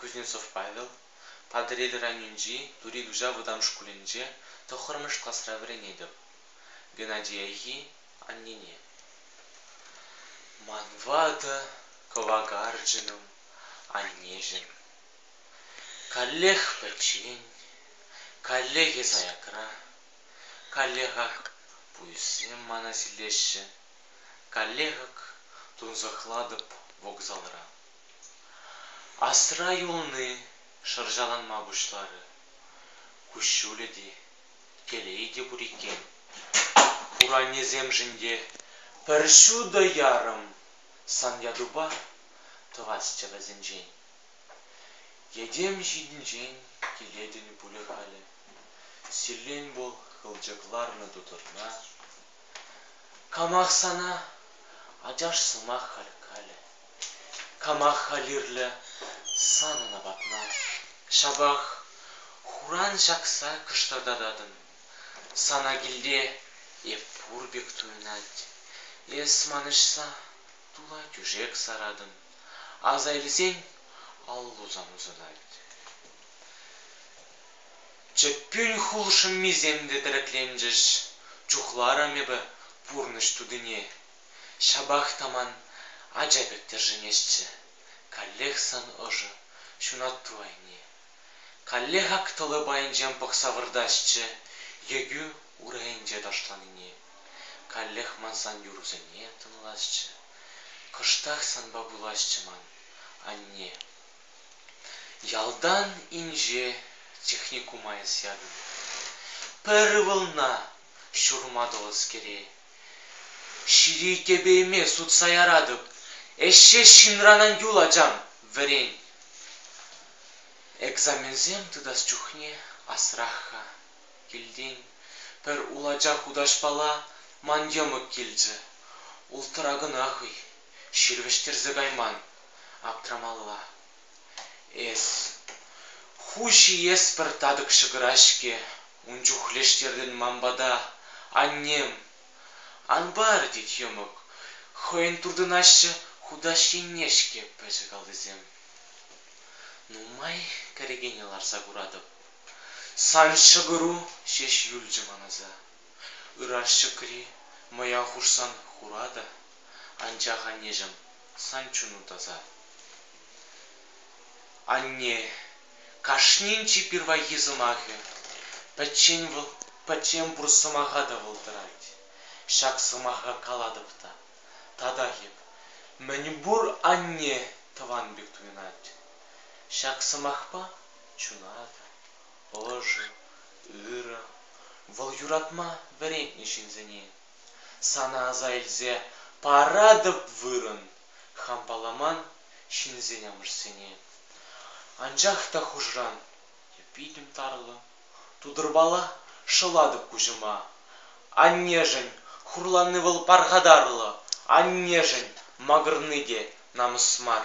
Кузнецов Павел, Патӑрьел районӗнчи Тури Туҫа вӑтам шкулӗнче тӑххӑрмӗш класра вӗренетӗп. Геннадий Айхи аннене. Ман ватӑ кӑвакарчӑнӑм аннешӗн. Каллех пӗччен, каллех эс аякра, каллеха пуйӑссем мана силлеҫҫӗ, каллех ак тунсӑхлатӑп вокзалра. Асра юлни шӑрҫаланма пуҫларӗ. Куҫҫулӗ те, телейӗ те пур иккен. Хуранӗсемшӗн те пӗр ҫутӑ ярӑм сан ятупа тӑвасчӗ вӗсенчен. Йӗтем ҫинчен килетӗн пулӗ халӗ. Силлен пул хылчӑк ларнӑ тутӑрна. Камах сана ачаш сӑмах халь калӗ. Кама халирлӗ санӑн апатна, Ҫапах хуран ҫакса кӑштӑртататӑн. Сана килте эп пур пек туйӑнать, Эс манӑҫса тула тӳшек саратӑн. Аса илсен аллу сан усӑнать. Чӗппӳн хул шӑммисем те тӗрекленчӗҫ, Чухларӑм эпӗ пурнӑҫ тутине. Ҫапах та ман ача пек тӗршӗнесчӗ. Каллех сан ӑшӑ, ҫунатту айне. Каллех ак тӑлӑ пайӗнчен пӑхса выртасчӗ Егӳ урӑхӗнче ташланине. Каллех ман сан юрусене тӑнласчӗ. Кӑштах санпа пуласчӗ ман, анне. Ялтан инҫе техникум айӑс ятӑм. Пӗр ывӑлна ҫурма тӑлӑскере Ҫири тӗпейме сутса яратӑп, Ӗҫҫе ҫынранан юл, ачам, вӗрен. Экзаменсем тытас чухне асрах-ха. Килтен пӗр улача хутаҫпала ман йӑмӑк килчӗ. Ултӑра кӑна хӑй, ҫыр вӗҫтерсе кайман, аптрамалла. Эс ху ҫиес-пӗр татӑк ҫӑкӑра-ҫке ун чухлештертӗн ман пата, аннем. Ан пар, тет йӑмӑк, хӑйӗн туртӑнаҫҫӗ хутаҫ енне-ҫке пӗчӗк алтисем. Нумай кӗрекене ларса куратӑп. Сан ҫӑкӑру ҫеҫ юлчӗ ман аса. Ыраш ҫӑкри мӑя хушсан хура та, анчах, аннеҫӗм, сан чуну таса. Анне, кашнин чи пирвайхи сӑмахӗ. Пӗччен вӑл, пӗччен пур сӑмаха та вӑлтӑрать. Ҫак сӑмаха калатӑп та, татах эп. Мӗнпур анне тӑван пек туйӑнать. Ҫак сӑмахпа чунатӑр. Ӑшӑ, ырӑ. Вӑл юратма вӗрентнӗ ҫынсене. Сана аса илсе паратӑп вырӑн хам паламан ҫынсен-амӑшсене. Анчах та хушӑран я питӗм тарӑллӑ, тутӑрпала шӑлатӑп куҫӑма. Аннешӗн хурланни вӑл пархатарлӑ, аннешӗн макӑрни те намӑс мар.